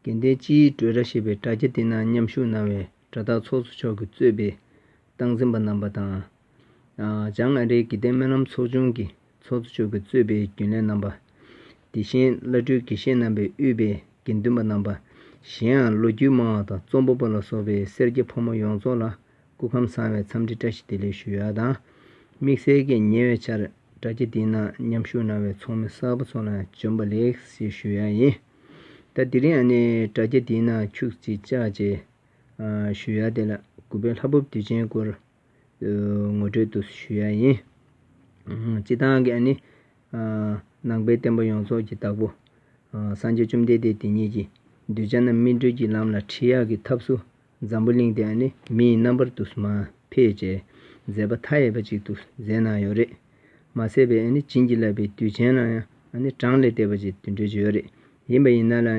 དགེ་ལྡན་སྤྱིའི་སྤྲོས་ར་ཞེས་པའི་དྲ་རྒྱ་དེ་ན་མཉམ་ཞུགས་གནང་བའི་དྲ་བདག་ཚོགས་གཙོ་མཆོག་གིས་གཙོས་པའི་སྟངས་འཛིན་པ་རྣམ་པ་དང། བྱང་ཨ་རིའི་དགེ་ལྡན་སྨོན་ལམ་ཚོགས་ཆུང་གི་ཚོགས་གཙོ་མཆོག་གིས་གཙོས་པའི་རྒྱུན་ལས་རྣམ་པ། དེ་བཞིན་བླ་སྤྲུལ་དགེ་བཤེས་རྣམ་པའི་དབུས་པའི་དགེ་འདུན་པ་རྣམ་པ། གཞན་ཡང་ལོ་རྒྱུས་སྨྲ་བ་དང་རྩོམ་པ་པོ་ལ་སོགས་པའི་སེར་སྐྱ་ཕོ་མོ་ཡོངས་རྫོགས་ལ་སྐུ་ཁམས་བཟང་བའི་འཚམས་འདྲི་བཀྲ་ཤིས་བདེ་ལེགས་ཞུ་ཡ་དང། དམིགས་བསལ་གྱི་ཉེ་བའི་ཆར་དྲ་རྒྱ་འདིའི་ནང་མཉམ་ཞུགས་གནང་བའི་ཚོགས་མི་གསར་བུ་ཚོ་ལ་བྱོན་པ་ལེགས་ཞེས་ཞུ་ཡ་ཡིན། ད་འདི་རིང་ཨ་ནེ་དྲ་རྒྱ་འདིའི་ནང་ཁྱུག་ཅིག་བཅག་རྗེས། ཞུ་ཡ་དེ་ལ་གུས་པའི་ལྷ་བུབ་དུས་ཆེན་སྐོར་ངོ་སྤྲོད་དུ་ཞུ་ཡ་ཡིན། སྤྱི་བཏང་གི་ཨ་ནེ། ནང་པའི་བསྟན་པ་ཡོངས་རྫོགས་ཀྱི་བདག་པོ། སངས་རྒྱས་བཅོམ་ལྡན་འདས་དེ་ཉིད་ཀྱིས་གདུལ་བྱ་རྣམས་སྨིན་གྲོལ་གྱི་ལམ་ལ་ཁྲིད་ཡག་གི་ཐབས་སུ། འཛམ་བུ་གླིང་དེའང་ནི་མི་ཡི་རྣམ་པར་དུ་མ་ཕེད་ཅེས་མཛད་པ་མཐའ་ཡས་པ་ཅིག་ཏུ་མཛད་གནང་ཡོད་རེད། མ་ཟད་པའི་ཨ་ནི་བྱིན་གྱིས་བརླབས་པའི་དུས་ཆེན་ལའང་ཨ་ནི་གྲངས་ལས་འདས་པ་ཅིག་འདུས་འགྲོ་གི་ཡོད་རེད། ཡིན་པ་ཡིན་ན་ལ་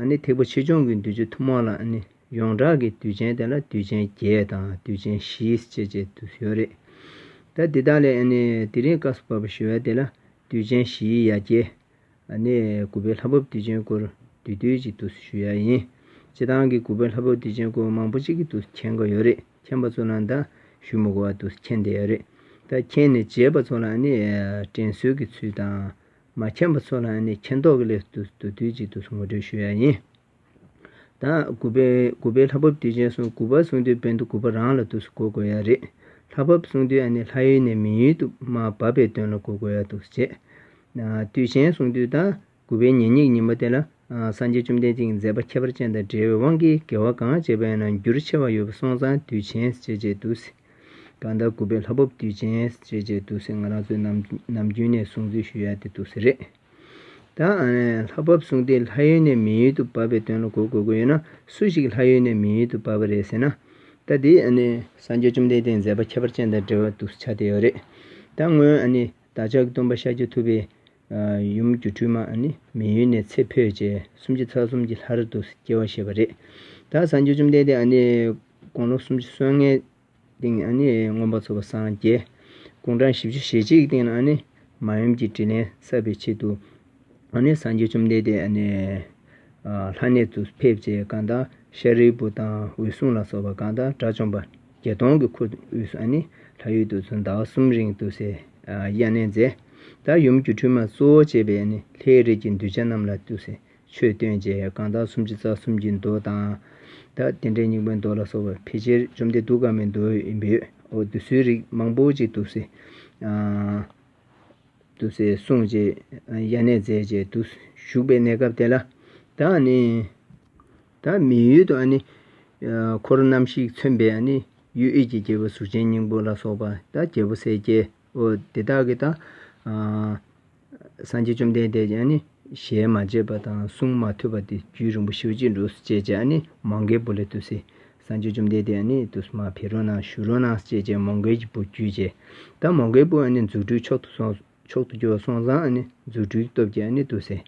ཨ་ནི་ཐེག་པ་ཆེ་ཆུང་གི་འདུས་ཆུ་ཐུན་མོང་ལ་ཨ་ནི་ཡོངས་གྲགས་ཀྱི་དུས་ཆེན་དེ་ལ་དུས་ཆེན་བརྒྱད་དང་དུས་ཆེན་བཞིས་བཅད་ཅེས་འདུས་ཡོད་རེད། ད་འདི་དག་ལས་ཨ་ནི་དེ་རིང་བཀའ་སུ་བབས་པ་ཞི་བའི་སྡེ་ལ་དུས་ཆེན་བཞིའི་ཡ་གྱལ་གནས་དགུ་པའི་ལྷ་བབས་བདེ་ཆེན་སྐོར་བསྡུས་བསྡུས་གཅིག་ཏུ་ཞུ་ཡ་ཡིན། སྤྱི་བཏང་གི་དགུ་པའི་ལྷ་བབས་བདེ་ཆེན་སྐོར་མང་པོ་གཅིག་ཏུ་མཁྱེན་དགོས་ཡོད་རེད་མཁྱེན་པ་ཚོ་ལ་འདའ་ཞུ་མུག་བར་དུ་མཁྱེན་བསྡད་ཡོད་རེད་ད་མཁྱེན་ནས་བརྗེད་པ་ཚོ་ལ་ནི་དྲན་གསོས་ཀྱི་ཚུལ་དང། མ་མཁྱེན་པ་ཚོ་ལ་ནི་མཁྱེན་རྟོགས་ཀྱི་སླད་དུ་བསྡུས་བསྡུས་གཅིག་ཏུ་ངོ་སྤྲོད་ཞུ་ཡ་ཡིན། དང། དགུ་པའི་དགུ་པའི་ལྷ་བབས་དུས་ཆེན་སོང་དགུ་པར་སོང་དུས་བན་དུ་དགུ་པ་རང་ལ་དུས་སུ་གོ་དགོས་ཡ་རེད། ལྷ་བབས་སོང་དུས་ཨ་ནེ་ལྷ་ཡུལ་ནས་མི་ཡུལ་དུ་མ་བབས་པའི་དོན་ལ་གོ་དགོས་ཡ་དུས་སུ་བྱེད། དུས་ཆེན་སོང་དུས་དང་དགུ་པའི་ཉེ་སྙིགས་ཉིན་མོ་དེ་ལ་སངས་རྒྱས་བཅོམ་ལྡན་འདས་ཀྱི་མཛད་པ་ཁྱད་པར་ཅན་དང་འབྲེལ་བའི་དབང་གིས་དགེ་བ་གང་བྱས་པ་ཡང་ན་འགྱུར་ཆེ་བ་ཡོད་པ་སོང་ཙང་དུས་ཆེན་བྱེད་ཅེས་དུས་སུ་གང་ལྟར་དགུ་པའི་ལྷ་བབས་དུས་ཆེན་བྱེད་ཅེས་དུས་སུ་ང་རང་ཚོའི་ནམ་རྒྱུན་ནས་གསུང་ཚུལ་ཞུ་ཡ་དེ་དུས་སུ་རེད། ད་ལྷ་བབས་གསུངས་ཏེ་ལྷ་ཡུལ་ནས་མི་ཡུལ་དུ་བབས་པའི་དོན་ལ་གོ་དགོས་ཀྱི་ཡོད་ན་སུ་ཞིག་ལྷ་ཡུལ་ནས་མི་ཡུལ་དུ་བབས་པ་རེད་ཟེར་ན། ད་དེ་སངས་རྒྱས་བཅོམ་ལྡན་འདས་མཛད་པ་ཁྱད་པར་ཅན་དང་འབྲེལ་བ་འདུག་ཆ་དེ་ཡོད་རེད། ད་སྔོན་བདག་ཅག་སྟོན་པ་ཤཱཀྱ་ཐུབ་པའི་ཡུམ་སྒྱུ་འཕྲུལ་མ་མི་ཡུལ་ནས་ཚེ་འཕོས་རྗེས་སུམ་ཅུ་རྩ་གསུམ་གྱི་ལྷར་དུ་སྐྱེ་བ་བཞེས་པ་རེད། ད་སངས་རྒྱས་བཅོམ་ལྡན་འདས་དགོང་ལོ་སུམ་ཅུ་སོ་ལྔའི། སྟེང་ན་ནི་མངོན་པར་མཚོ་བ་སངས་རྒྱས་ཀུན་འབྲང་བཞི་བཅུ་ཞེ་གཅིག་གི་སྟེང་ན་ནི་མ་ཡུམ་གྱི་དྲིས་ལན་བསབ་པའི་ཆེད་དུ་སངས་རྒྱས་བཅོམ་ལྡན་འདས་ལྷ་གནས་སུ་ཕེབས་ཅེས་བཀའ་དང་ཤཱ་རིའི་བུ་དང་འོད་སྲུང་ལ་སོགས་པ་བཀའ་དང་དགྲ་བཅོམ་པ་བརྒྱ་སྟོང་གི་འཁོར་དབུས་སུ་ལྷ་ཡུལ་དུ་ཟླ་བ་གསུམ་རིང་དུ་སའི་གཡས་གནས་མཛད། དེར་ཡུམ་གྱི་ཁྲུས་མ་གཙོ་བོར་བྱས་པའི་ལྷའི་རིས་ཀྱི་འདུལ་བྱ་རྣམས་ལ་ཏུ་སའི་ཆོས་སྟོན་བྱས་གང་དག་སུམ་ཅུ་རྩ་གསུམ་གྱི་མདོ་དང། དག་བདེ་འདྲེན་སྙིང་པོའི་མདོ་ལ་སོགས་པ་ཕལ་ཆེར་བཅོམ་ལྡན་གདུགས་དཀར་མོའི་མདོའི་འབོད་འོག་བསྡུ་སྲོལ་རིགས་མང་པོ་ཅིག་བསྡུ་སྲོལ་གསུངས་རྗེས་དབྱར་གནས་མཛད་རྗེས་བསྡུ་བཞུགས་པའི་གནས་སྐབས་དེ་ལ། དག་ནི། དག་མི་ཡུལ་དུ་ནི། འཁོར་རྣམ་བཞིས་མཚོན་པའི་ནི་ཡུལ་ཨེ་ཀྱི་རྒྱལ་པོ་གཟུགས་ཅན་སྙིང་པོ་ལ་སོགས་པ་དག་རྒྱལ་པོ་སྲས་བརྒྱད་འོ་དེ་དག་གི་དང། སངས་རྒྱས་བཅོམ་ལྡན་འདས་ཀྱིས་ནི་ཞལ་མ་བཅད་པ་དང་གསུང་མ་ཐོས་པ་དེ་རྒྱུད་རིང་པོ་ཞི་བ་གཅིག་འགྲོ་སུ་སྐྱེས་ཀྱང་ནི་མང་གའི་བུ་ལས་ཏུ་སི། སངས་རྒྱས་བཅོམ་ལྡན་འདས་ནི་ཏུ་སི་མ་བྷི་རོ་ན་ཞུ་རོ་ན་སུ་སྐྱེས་ཀྱང་མང་གའི་བུ་རྒྱུད་ཆད། ད་མང་གའི་བུ་ནི་རྫུ་འཕྲུལ་མཆོག་ཏུ་གྱུར་བ་སོང་ཙང་ནི་རྫུ་འཕྲུལ་གྱི་སྟོབས་ཀྱིས་ནི་ཏུ་སི།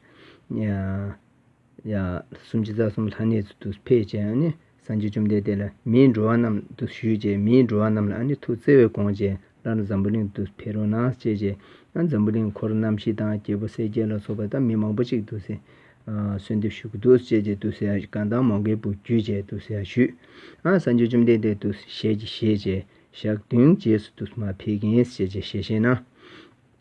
སུམ་ཅུ་རྩ་གསུམ་ལྷ་གནས་སུ་དུ་ཕེབས་ཀྱིས་ནི་སངས་རྒྱས་བཅོམ་ལྡན་འདས་ལ་མིའི་འགྲོ་བ་རྣམས་དུ་ཞུས་ཀྱིས་མིའི་འགྲོ་བ་རྣམས་ལ་ནི་ཐུགས་བརྩེ་བས་དགོངས་ཀྱིས་སླར་འཛམ་བུ་གླིང་དུ་ཕེབས་རུང་ན་སྐྱེས་ཀྱིས་ན་འཛམ་བུ་གླིང་འཁོར་རྣམ་བཞི་དང་རྒྱལ་པོ་གསལ་རྒྱལ་ལ་སོགས་པ་དང་མི་མང་པོ་ཅིག་ཏུ་གསོལ་འདེབས་ཞུ་གི་འདུག་ཅེས་ཀྱིས་ཏུ་སེ་ཡ་གང་དག་མང་གའི་བུ་རྒྱུད་ཅེས་ཏུ་སེ་ཡ་ཞུས། སངས་རྒྱས་བཅོམ་ལྡན་འདས་ཏུ་ཞལ་གྱིས་བཞེས་ཀྱིས་ཞག་བདུན་རྗེས་སུ་ཏུ་མ་ཕེབས་ཀྱིས་ཞེས་བཞེས་ན།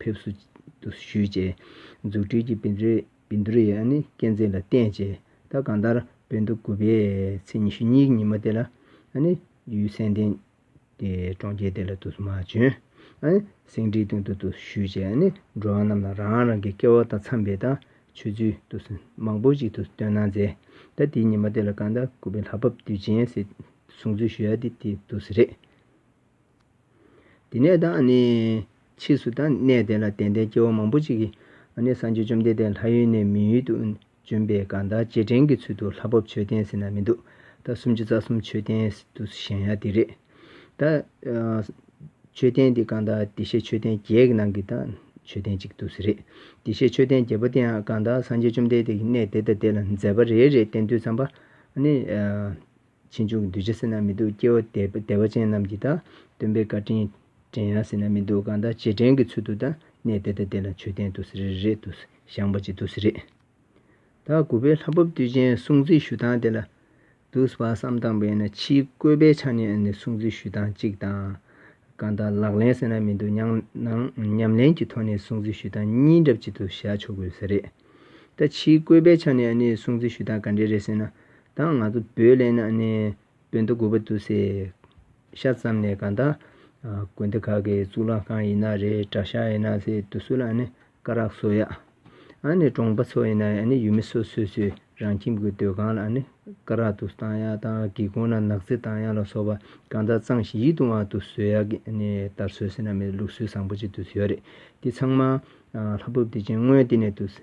ཕེབས་བསུ་ཞུས་རྗེས་མཛུབ་ཁྲིད་ཀྱིས་བིན་དུ་རི་ཡཱ་ནི་སྐས་འཛེགས་ལ་བརྟེན་རྗེས་ད་གང་ལྟར་བོད་མདོ་དགུ་པའི་ཚེས་ཉི་ཤུ་གཉིས་ཀྱི་ཉིན་མོ་དེ་ལ་ཡུལ་གསན་ཏེ་གྲོང་ཁྱེར་དེ་ལ་བསྡུ་བསུ་མ་བྱོན། སེང་ཁྲིའི་སྟེང་དུ་བསྡུ་བསུ་ཞུས་རྗེས་འགྲོ་བ་རྣམས་ལ་རང་རང་གི་སྐལ་བ་དང་འཚམས་པའི་དང་ཆོས་ཚུལ་བསྡུ་བསུ་མང་པོ་ཞིག་ཏུ་སྟོན་གནང་མཛད། ད་དེའི་ཉིན་མོ་དེ་ལ་གང་ལྟར་དགུ་པའི་ལྷ་བབས་དུས་ཆེན་ཟེར་གསུང་ཚུལ་ཞུ་ཡ་དེ་དེའི་བསྡུ་བསུ་རེད། དེ་ནས་དང་ནི། ཕྱིས་སུ་དང་གནས་དེ་ལ་དད་ལྡན་སྐྱེ་བོ་མང་པོ་ཅིག་གིས། སངས་རྒྱས་བཅོམ་ལྡན་འདས་ལྷ་ཡུལ་ནས་མི་ཡུལ་དུ་བྱོན་པའི་སྒང་དག་རྗེས་དྲན་གྱི་ཚུལ་དུ་ལྷ་བབ་མཆོད་རྟེན་ཟེར་ན་མི་འདུག་ད་སུམ་ཅུ་རྩ་གསུམ་མཆོད་རྟེན་དུ་བཞེངས་ཡ་དེ་རེད། ད། མཆོད་རྟེན་དེ་སྒང་དག་བདེ་གཤེགས་མཆོད་རྟེན་བརྒྱད་ཀྱི་ནང་གི་དང་མཆོད་རྟེན་གཅིག་ཏུ་རེད། བདེ་གཤེགས་མཆོད་རྟེན་བརྒྱད་པོ་དེའང་སྒང་དག་སངས་རྒྱས་བཅོམ་ལྡན་འདས་ཀྱིས་གནས་དེ་དང་དེ་ལ་མཛད་པ་རེ་རེ་བསྟན་དུས་བརྩམས་པ། ཕྱིན་ཆོག་གི་འདུས་བྱས་སེར་སྣ་མི་སྡུག་སྐྱེ་བ་དད་པ་ཅན་རྣམས་ཀྱིས་དང། སྟོན་པའི་བཀའ་དྲིན་དྲན་ཡང་སེར་སྣ་མི་སྡུག་གང་དག་རྗེས་དྲན་གྱི་ཚུལ་དུ་དང་གནས་དེ་དང་དེ་ལ་མཆོད་རྟེན་དུ་རེ་རེ་དུ་བཞེངས་པ་གཅིག་ཏུ་རེ་རེ་དང་དགུ་པའི་ལྷ་བབས་དུས་ཆེན་སྲུང་བརྩི་ཞུ་སྟངས་དེ་ལ་དུ་བར་བསམ་སྟངས་པས་ན་ཕྱིའི་བཀོད་པའི་ཆ་ནས་ནི་སྲུང་བརྩི་ཞུ་སྟངས་གཅིག་དང། གང་དག་ལག་ལེན་སེར་སྣ་མི་སྡུག་ཉམས་ལེན་གྱི་ཐོག་ནས་སྲུང་བརྩི་ཞུ་སྟངས་གཉིས་འདྲ་གཅིག་ཏུ་བཞག་ཆོག་གི་རེད། ད་ཕྱིའི་བཀོད་པའི་ཆ་ནས་ནི་སྲུང་བརྩི་ཞུ་སྟངས་ག་འདྲའི་རེད་ཟེར་ན། དང་ང་ཚོ་བོད་ལས་ནང་ནས་བོད་མདོ་དགུ་པ་འདུག་སའི་ཤ་ཙམ་ནས་གང་དག་དགོན་སྡེ་ཁག་གི་གཙུག་ལག་ཁང་ཡིན་ན་རེད་གྲྭ་ཤག་ཡིན་ན་སའི་དུ་སུ་ལ་ནི་སྐ་རགས་བཟོ་ཡག་ཨ་ནི་གྲོང་པ་ཚོ་ཡིན་ན་ཡུལ་མི་སོ་སོས་ཚོས་རང་ཁྱིམ་གྱི་སྡོད་ཁང་ལ་ནི་སྐ་རགས་དུ་བཏང་ཡག་དང་སྒེའུ་ཁུང་ན་ནག་རྩི་བཏང་ཡག་ལ་སོགས་པ་གང་དག་གཙང་ཞིང་ཡིད་དུ་འང་དུ་བཟོ་ཡག་གི་ནི་དར་སྲོལ་སེ་ན་མི་ལུགས་སྲོལ་བཟང་པོ་ཅིག་དུ་ཡོད་རེད་དེ་ཚང་མ་ལྷ་བུབ་དེ་ཅན་དངོས་དེ་ནས་དུ་སའི་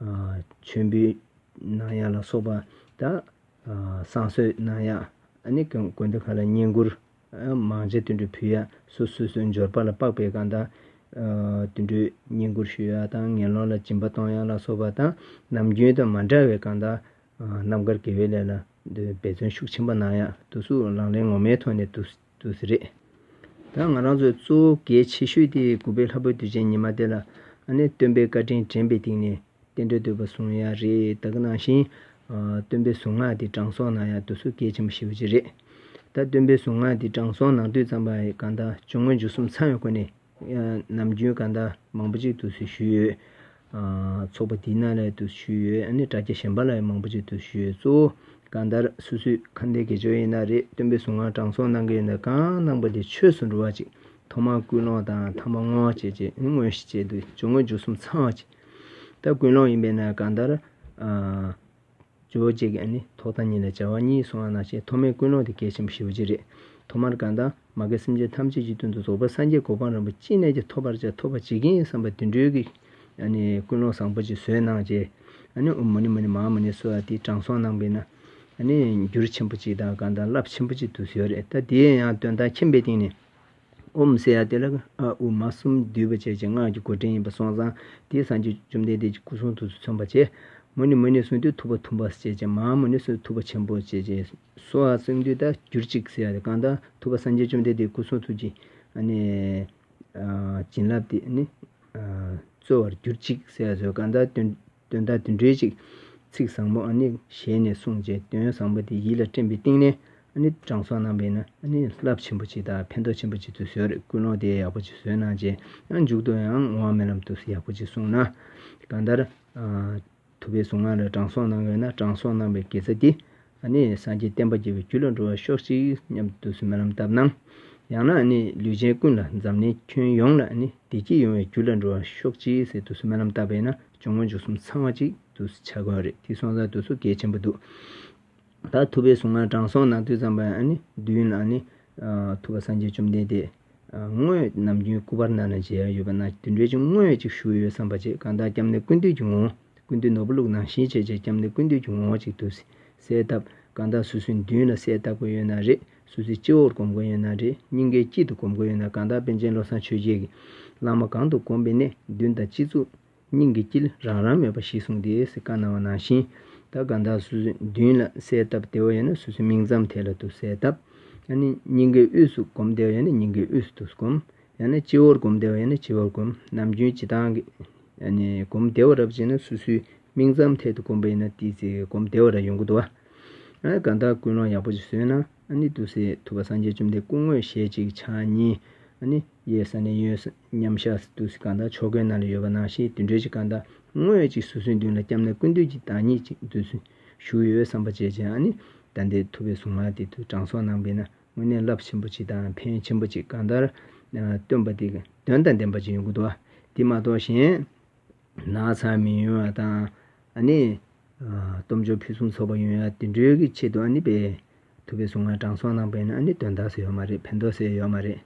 མཆོད་འབུལ་གནང་ཡ་ལ་སོགས་པ་དང། བསང་གསོལ་གནང་ཡ། དགོན་སྡེ་ཁག་ལ་བསྙེན་བཀུར། མང་མཇལ་དུད་འགྲོ་ཕུལ་ཡ། སོ་སོས་སོའི་འབྱོར་པ་ལ་དཔག་པའི་སྒང་དང། དུད་འགྲོའི་བསྙེན་བཀུར་ཞུ་ཡ་དང་ངན་སློང་ལ་སྦྱིན་པ་གཏོང་ཡ་ལ་སོགས་པ་དང། ནམ་རྒྱུན་དང་མ་འདྲ་བའི་སྒང་དང། རྣམ་དཀར་དགེ་བའི་ལས་ལ་འབད་བརྩོན་ཤུགས་ཆེན་པོ་གནང་ཡ། དུས་སུ་ལག་ལེན་ངོ་མའི་ཐོག་ནས་དུས། དུ་ཟེར། རེད་ད་ང་རང་ཚོས་གཙོ་བོ་གལ་ཆེ་ཤོས་དེ་དགུ་པའི་ལྷ་བུ་དུས་ཆེན་ཉི་མ་དེ་ལ་ཨ་ནེ་སྟོན་པའི་བཀའ་དྲིན་དྲན་པའི་སྟེང་ནས་རྟེན་འབྲེལ་དུལ་བ་བཟུང་ཡ་རེད་ད་གི་ནང་བཞིན་སྟོན་པའི་གཟུངས་སྔགས་དེ་དྲང་སྲོང་ནང་ཡང་དུ་སུ་གལ་ཆེན་པོ་ཞེ་བོ་ཅིག་རེད་ད་སྟོན་པའི་གཟུངས་སྔགས་དེ་དྲང་སྲོང་ནང་དུས་ཙམ་པ་ཡི་གང་ད་ཇོ་དངོས་འཇུག་གསུམ་ཚང་བའི་སྒོ་ནས། ནམ་རྒྱུན་གང་ཟླ་མང་པོ་ཅིག་ཏུ་ཞུས་ཡོད། ཚོགས་པ་དེའི་ནང་ལ་ཏུ་ཞུས་ཡོད་ནི་དྲ་རྒྱ་གཞན་པ་ལ་ཡང་མང་པོ་ཅིག་ཏུ་ཞུས་ཡོད། གཙོ་བོ་གང་ལྟར་སུ་སུས་ཁ་འདས་དགེ་སྦྱོར་ཡིན་ན་རེ་སྟོན་པའི་གཟུངས་སྔགས་དྲང་སྲོང་གནང་གི་ཡིན་ན་གང་གནང་པ་དེ་ཆོས་སུ་འགྲོ་བ་ཅིག་ཐོག་མར་ཀུན་སློང་དང་ཐང་པ་སྔོན་བྱེད་ཅེས་དངོས་གཞི་བྱེད་དུ་བཅུག་སྔོན་འཇུག་གསུམ་ཚང་བ་ཅིག་ད་ཀུན་སློང་ཡིན་པས་ན་གང་ལྟར། ཇོ་བོ་རྗེ་ཀྱང་ནི་ཐོག་མཐའ་གཉིས་ལ་བྱ་བ་གཉིས་སོང་བ་ན་ཞེས་ཐོག་མའི་ཀུན་སློང་དེ་གལ་ཆེན་པོ་ཞི་བ་གཅིག་རེད། ཐོག་མར་གང་དང་མ་དགའི་སེམས་ཅན་ཐམས་ཅད་ཀྱི་དོན་དུ་རྫོགས་པའི་སངས་རྒྱས་གོ་འཕང་རིན་པོ་ཅི་ནས་ཀྱང་ཐོབ་པར་བྱ་ཐོབ་པར་བྱེད་ཀྱིན་བསམ་པ་དུད་འགྲོའི་གི་ཀུན་སློང་བཟང་པོ་ཅིག་བཟོས་གནང་བྱས། ཨོ་མོ་ནི་མོ་ནི་མ་མོ་ནི་སོགས་དེའི་དྲང་སྲོང་གནང་བས་ན། འགྱུར་ཆེན་པོ་ཅིག་དང་གང་དང་རླབས་ཆེན་པོ་ཅིག་ཏུ་བཟོས་རེད་ད་དེའི་ཡང་དོན་དག་ཁྱིམ་པའི་སྟེང་ནས། ཨོ་མི་སེ་ཡ་དེ་ལ་ཨ་ཨུ་མ་གསུམ་བསྡུས་པ་བཅས་ཀྱི་སྔགས་ཀྱི་འགོ་འདྲེན་ཡིན་པ་སོང་ཙང་དེའི་སངས་རྒྱས་བཅོམ་ལྡན་འདས་ཀྱི་སྐུ་གསུང་ཐུགས་སུ་མཚོན་པར་བྱས། མོ་ནི་མོ་ནི་གསུང་དུད་ཐུབ་པ་ཐུབ་པ་ཟེར་བཅས་ཀྱི་མའང་མོ་ནི་གསུང་ཐུབ་པ་ཆེན་པོ་ཟེར་བཅས་སོ་ཨ་གསུང་དུད་དང་གྱུར་ཅིག་ཟེར་བ་དེ་གང་དང་ཐུབ་པ་སངས་རྒྱས་བཅོམ་ལྡན་འདས་སྐུ་གསུང་ཐུགས་ཀྱི་བྱིན་རླབས་དེ་ནི་སྩོལ་བར་གྱུར་ཅིག་ཟེར་བ་སོགས་གང་དག་སྟོན། དོན་དག་འདི་འགྲེལ་ཅིག། ཚིག་བཟང་པོ་ཨ་ནི་ཞལ་ནས་གསུངས་རྗེས་དོན་བཟང་པོ་དེ་ཡིད་ལ་སྤྲིངས་པའི་སྟེང་ནས་ཨ་ནི་དྲང་སྲོང་རྣམ་པས་ན་ཨ་ནི་རླབས་ཆེན་པོ་ཅིག་དང་ཕན་ཐོགས་ཆེན་པོ་ཅིག་ཏུ་བཟོས་རེད་ཀུན་སློང་དེ་ཡག་པོ་ཅིག་བཟོས་གནང་རྗེས་ཡང་མཇུག་ཏུ་ཡང་ངོ་བ་མེད་ལམ་དུ་ཡག་པོ་ཅིག་གསུངས་ན། གང་ལྟར། ཐུབ་པའི་གཟུངས་སྔགས་ལ་དྲང་སྲོང་གནང་དགོས་ན་དྲང་སྲོང་གནང་བའི་དགེ་རྩ་འདི། ཨ་ནི་སངས་རྒྱས་བསྟན་པ་རྒྱས་པའི་རྒྱུ་ལ་འགྲོ་བར་ཤོག་ཅིག་སྙམ་དུ་དུས་སུ་རྨི་ལམ་བཏབ་ན། ཡང་ན་ཨ་ནི་ལུས་ཅན་ཀུན་ལ་འཛམ་གླིང་ཁྱོན་ཡོངས་ལ་ཨ་ནི་བདེ་སྐྱིད་ཡོང་བའི་རྒྱུ་ལ་འགྲོ་བར་ཤོག་ཅིག་ཟེར་དུས་སུ་རྨི་ལམ་བཏབ་པས་ན་ཅུང་མངོན་ཆུང་གསུམ་ཚང་བ་ཅིག་དུས་སུ་བྱ་དགོས་རེད་དེ་སོང་ཙང་དུས་སུ་གལ་ཆེན་པོ་འདུག་ད་ཐུབ་པའི་གཟུངས་སྔགས་དྲང་སྲོང་ནང་དུས་ཙམ་པ་ཨ་ནི་བདུན་ཨ་ནི་ཐུབ་པ་སངས་རྒྱས་བཅོམ་ལྡན་འདས། དངོས་ནམ་རྒྱུན་སྐུ་པར་ནང་ནས་མཇལ་ཡང་ཡོད་པ་ན་དེ་འདྲའི་ཆུང་ངུ་ཅིག་བཞུགས་ཡོད་བསམ་པ་བྱས་གང་ལྟར་སྐྱབས་གནས་ཀུན་འདུས་ཀྱི་ངོ་ཀུན་འདུས་ནོར་བུ་བླུག་ནང་བཞིན་བྱས་རྗེས་སྐྱབས་གནས་ཀུན་འདུས་ཀྱི་ངོ་ཅིག་ཏུ་གསལ་བཏབ་གང་ལྟར་སུ་སུའི་མདུན་ལ་གསལ་བཏབ་དགོས་ཡོད་ན་རེད་སུ་སུའི་སྤྱི་བོར་གོམས་དགོས་ཡོད་ན་རེད་སྙིང་གའི་དཀྱིལ་དུ་གོམས་དགོས་ཡོད་ན་གང་ལྟར་པཎ་ཆེན་བློ་བཟང་ཆོས་རྒྱལ་གྱི་བླ་མ་གང་དུ་གོམས་པའི་གནས་མདུན་དང་སྤྱི་གཙུག། སྙིང་གི་དཀྱིལ་རང་རང་མོས་པ་ཞིག་བཟུང་སྟེ་སེ་ཀ་ན་བ་ནང་བཞིན་ད་གའ་མདའ་སུ་སུ་མདུན་ལ་གསལ་བཏབ་དེ་བ་ཡ་ན་སུ་སུ་མིག་མཚམས་དེ་ལ་དུ་གསལ་བཏབ་ཡ་ན་སྙིང་གའི་དབུས་སུ་བསྒོམ་དེ་བ་ཡ་ན་སྙིང་གའི་དབུས་སུ་དུ་བསྒོམ་ཡ་ན་སྤྱི་བོར་བསྒོམ་དེ་བ་ཡ་ན་སྤྱི་བོར་བསྒོམ་ནམ་རྒྱུན་སྤྱི་དང་གི་བསྒོམ་དེ་བ་རབ་བྱེད་ན་སུ་སུའི་མིག་མཚམས་ཐད་དུ་བསྒོམ་པ་ཡིན་ན་དེའི་ཚེ་བསྒོམ་དེ་བ་ར་ཡོང་གི་དུ་བ་ཡ་ན་ག་མདའ་ཀུན་སློང་ཡག་པོ་ཅིག་བཟོས་ན། ནི་དུ་སེ་ཐུ་བ་སངས་རྒྱས་བཅོམ་ལྡན་སྐུ་དངོས་ཞལ་གཅིག་ཕྱག་གཉིས། ནི་གཡས་ས་ནས་གཡོན་མཉམ་གཞག་སི་ཏུ་སི་ཀ་མདའ་ཕྱོགས་གོས་ནཱ་ལེ་ཡོལ་བ་ནང་བཞིན་དུད་འགྲོའི་གཅིག་ཀ་མདའ་དངོས་གཅིག་སོ་སོའི་མདུན་ལ་བསྐྱབས་ན་ཀུན་འདུས་ཀྱི་བདག་ཉིད་ཅིག་མཛོད་ཚུལ་བཞུགས་ཡོད་བསམ་པ་བཅས་ཀྱི་ནི་ད་ལྟའི་ཐུ་བའི་གཟུངས་མ་དེ་དུ་དྲང་སྲོང་ནང་པའི་ན་དངོས་གནས་རླབས་ཆེན་པོ་ཅིག་དང་ཕན་ཆེན་པོ་ཅིག་ག་མདའར་སྟོན་པ་དེ་དོན་དང་ལྡན་པ་ཅིག་ཡོང་གི་འདུག་དེ་མ་གཏོགས་གཞན། ནག་ཚང་མི་ཡོང་བ་དང། སྟོབས་འབྱོར་ཕུན་སུམ་ཚོགས་པ་ཡོང་ཡ་དེ་འདྲའི་གི་ཆེད་དུ་སྤེལ་ཐུབ་པའི་གཟུངས་སྔགས་དྲང་སྲོང་གནང་པས་ནི་དོན་དག་སེ་ཡོད་མ་རེད་ཕན་ཐོགས་སེ་ཡོད་མ་རེད།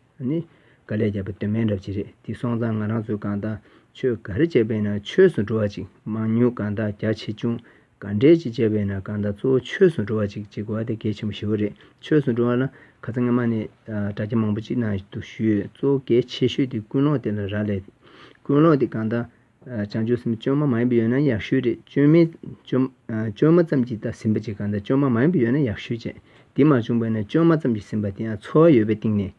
དཀའ་ལས་རྒྱབ་པའི་དོན་མེད་འདྲ་བྱེད་རེད་དེ་སོང་ཙང་ང་རང་ཚོའི་གང་དག་ཆོས་ག་རེ་བྱས་པས་ན་ཆོས་སུ་འགྲོ་བ་ཅིག་མང་ཉུང་གང་དག་རྒྱ་ཆེ་ཆུང་ག་འདྲས་ཀྱིས་བྱས་པས་ན་གང་དག་གཙོ་བོ་ཆོས་སུ་འགྲོ་བ་ཅིག་ཅིག་བ་དེ་གལ་ཆེན་པོ་ཞི་བ་རེད་ཆོས་སུ་འགྲོ་བ་ལ་ག་ཚ་ངན་མ་ནས་དྲ་རྒྱ་མང་པོ་ཅིག་ན་དུ་ཞུས་གཙོ་བོ་གལ་ཆེ་ཤོས་དེ་ཀུན་སློང་དེ་ལ་རག་ལས་ཀུན་སློང་དེ་གང་དག་བྱང་ཆུབ་སེམས་བཅོས་མ་མ་ཡིན་པ་ཡོད་ན་ཡག་ཤོས་རེད་བཅོས་མའི་བཅོས་མ་ཙམ་གྱིས་ད་ཟིན་པ་ཅིག་གང་དག་བཅོས་མ་མ་ཡིན་པ་ཡོད་ན་ཡག་ཤོས་བྱས་དེ་མ་བྱུང་བས་ན་བཅོས་མ་ཙམ་གྱིས་ཟིན་པ་དེ་ཡང་འཚོ་བ་ཡོད་པའི་སྟེང་ནས་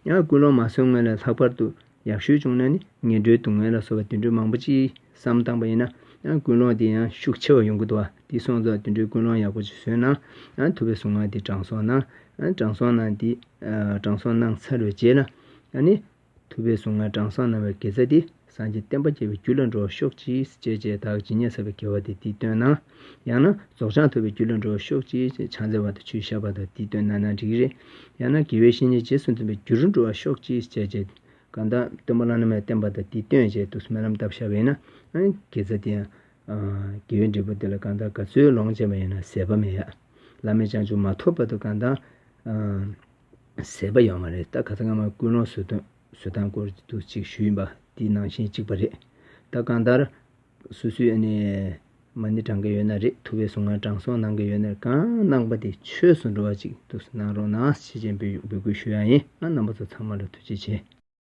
ཡང་ཀུན་སློང་མ་བཟོད་སྔོན་ལ་ལྷག་པར་དུ་ཡག་ཤོས་བྱུང་ན་ནི་ངན་འགྲོའི་སྡུག་བསྔལ་ལ་བཟོ་བ་དུད་འགྲོ་མང་པོ་ཅི་བསམ་བཏང་པ་ཡིན་ན་ཀུན་སློང་དེ་ཡང་ཤུགས་ཆེ་བ་ཡོང་གི་འདུག་བ་འདི་སོང་ཙང་དུད་འགྲོའི་ཀུན་སློང་ཡག་པོ་ཅིག་བཟོས་ན་ཐུབ་པའི་གཟུངས་སྔགས་འདི་དྲང་སྲོང་ན་དྲང་སྲོང་ན་འདི་དྲང་སྲོང་སྣང་ཚར་བའི་རྗེས་ལ་ནི། ཐུབ་པའི་གཟུངས་སྔགས་དྲང་སྲོང་ན་བའི་དགེ་རྩ་འདི་སངས་རྒྱས་བསྟན་པ་རྒྱས་པའི་རྒྱུ་ལ་འགྲོ་ཤོག་ཅིག་ཅེས་བྱས་དག་ཇི་སྙེད་བསགས་པའི་དགེ་བ་དེ་འདིས་བཏོན་ན། ཡང་ན་རྫོགས་བྱང་ཐོབ་པའི་རྒྱུ་ལ་འགྲོ་བར་ཤོག་ཅིག་ཅེས་ཕྱག་འཚལ་བ་དང་ཆུ་བཞག་པ་དང་འདི་སྟོན་ན་ན་འགྲིག་རེད། ཡང་ན་དགེ་བའི་བཤེས་གཉེན་རྗེས་སུ་འཛིན་པའི་རྒྱུ་རུ་འགྲོ་བར་ཤོག་ཅིག་ཅེས་བྱས། གང་དག་སྟོན་པ་བླ་ན་མེད་བསྟན་པ་དང་འདི་སྟོན་ཅེས་ཏུ་སྨོན་ལམ་བཏབ་བཞག་པས་ན། དགེ་རྩ་འདི་ཡང། དགེ་བའི་འབྲས་བུ་འདི་ལ་གང་དག་ག་ཚོད་ལོངས་སྤྱད་པ་ཡིན་ན་ཟད་པ་མེད། བླ་མའི་བྱང་ཆུབ་མ་ཐོབ་བར་དུ་གང་དག། ཟད་པ་ཡོང་བ་རེད་ད་ག་ཚོད་སྔ་མ་ཀུན་སློང་བཟོད་དང་བཟོད་དང་སྐོར་དུ་ཅིག་ཞུས་ཡིན་པ་འདི་ནང་བཞིན་གཅིག་པ་རེད་ད་གང་ལྟར། སུ་སུའི་ཨ་ནེ་མ་ནི་བགྲང་གི་ཡོད་ན་རེད་ཐུ་བའི་གཟུངས་སྔགས་དྲང་སྲོང་གནང་གི་ཡོད་ནར་གང་གནང་པ་དེ་ཆོས་སུ་འགྲོ་བ་ཅིག་ཏུ་གནང་རོགས་གནང་ཞེས་མཆན་འབུལ་འབུལ་སྐུལ་ཞུ་ཡང་ཡིན་ང་རྣམ་པ་ཚོ་ཚང་མ་ལ་ཐུགས་རྗེ་ཆེ།